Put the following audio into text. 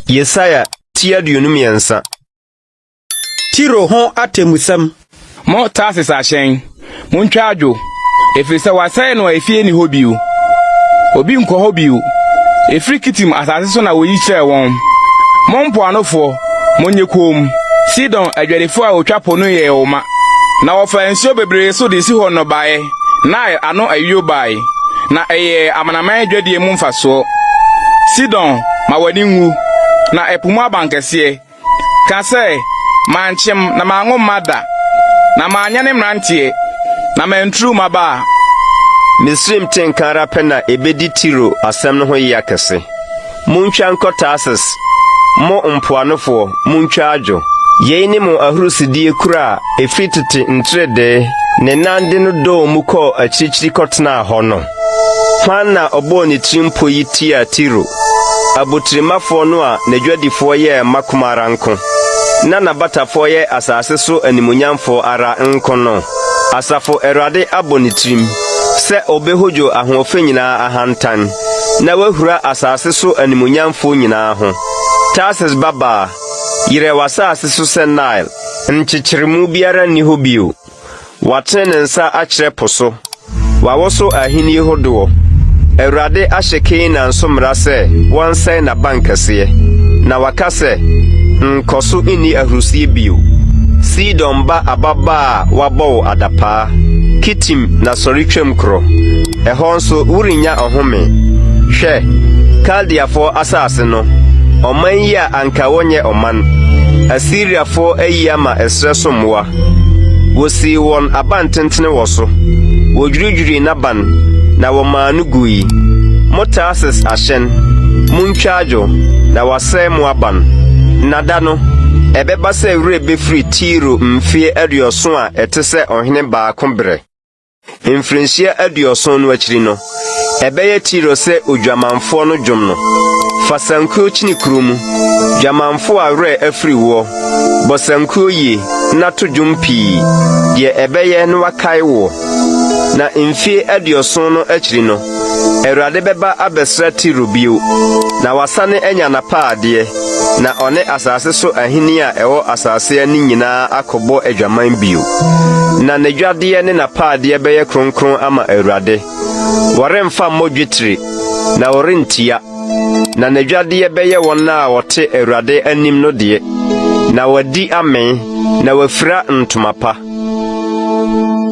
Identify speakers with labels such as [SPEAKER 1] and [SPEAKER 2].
[SPEAKER 1] Yesaia ti aduonu mmiɛnsa.
[SPEAKER 2] Tiro ho atemmusɛm. Mo Tarsis
[SPEAKER 3] ahyɛn, montwa adwo, ɛfiri sɛ wɔasɛe no a efie nni hɔ bio. Obi nkɔ hɔ bio. Ɛfiri Kitim asase so na wɔyi kyerɛɛ wɔn. Mo mpoanofoɔ, Monyɛ komm! Sidon adwadifoɔ a wɔtwa po no yɛɛ wo ma, na wɔfaa nsuo bebree so de Sihon nnɔbaeɛ, Nile ano ayuo baeɛ, na ɛyɛɛ amanaman adwadie mu mfasoɔ. Sidon, ma w'ani nwu, na ɛpo mu abankɛseɛ. Ka sɛ, Mankyem na manwo mma da, na manyɛ ne mmeranteɛ, na manturu mmabaa. Misraim
[SPEAKER 1] te nka ara pɛ na ebedi Tiro asɛm no ho yea kɛse. Muntwa nkɔ Tarsis, mo mpoanofoɔ, muntwa adwo. Yei ne mo ahurisidie kuro a ɛfiri tete nteredee ne nan de no dɔɔ mu kɔɔ akyirikyiri kɔtenaa hɔ no. Hwan na ɔbɔɔ ne tirimpo yi tiaa Tiro, abotirimmafoɔ no a n'adwadifoɔ yɛ mma kumaa ara nko, na n'abatafoɔ yɛ asase so animuonyamfoɔ ara nko no? Asafo Awurade abɔ ne tirim sɛ ɔbɛhodwo ahoɔfɛ nyinaa ahantan. na wahura asase so animuonyamfoɔ nyinaa ho. Tarsis babaa, yerɛ w'asase so sɛ Nile, nkyekyeremu biara nni hɔ bio. Watene ne nsa akyerɛ po so, wawoso ahennie hodoɔ. Awurade ahyɛ Kanaan so mmara sɛ wɔnsɛe n'abankɛseɛ, na waka sɛ, Nkɔso nni ahurisie bio, Sidon ba ababaa a wɔabɔ wo adapaa. Tim na sɔre twam korɔ. Ɛhɔ nso worennya ɔhome. Hwɛ, Kaldeafoɔ asase no, ɔman yi a anka wɔnyɛ ɔman, Asiriafoɔ ayi ama ɛserɛ so mmoa. Wɔsii wɔn abantentene wɔ so, wɔdwiridwirii n'aban, na wɔmaa no gui. Mo Tarsis ahyɛn, montwa adwo, na wɔasɛe mo aban. Na da no, ɛbɛba sɛ werɛ bɛfiri Tiro mfeɛ aduɔson a Ɛte sɛ ɔhene baako berɛ. Mfirinhyia aduɔson no akyiri no, ɛbɛyɛ Tiro sɛ odwamanfoɔ no dwom no. Fa sankuo kyini kuro mu, dwamanfoɔ a werɛ afiri woɔ. Bɔ sankuo yie na to dwom pii, deɛ ɛbɛyɛ na wakae woɔ. Na mfie aduɔson no akyiri no, Awurade bɛba abɛsra Tiro bio, na wasane anya n'apaadeɛ. Na ɔne asase so ahenni a ɛwɔ asase ani nyinaa akɔbɔ adwaman bio. Na n'adwadeɛ ne n'apaadeɛ bɛyɛ kronkron ama Awurade. Wɔremfa mmɔ dwetire, na wɔrentua. Na n'adwadeɛ bɛyɛ wɔn a wɔte Awurade anim no deɛ, na wɔadi amee, na wɔafira ntoma pa.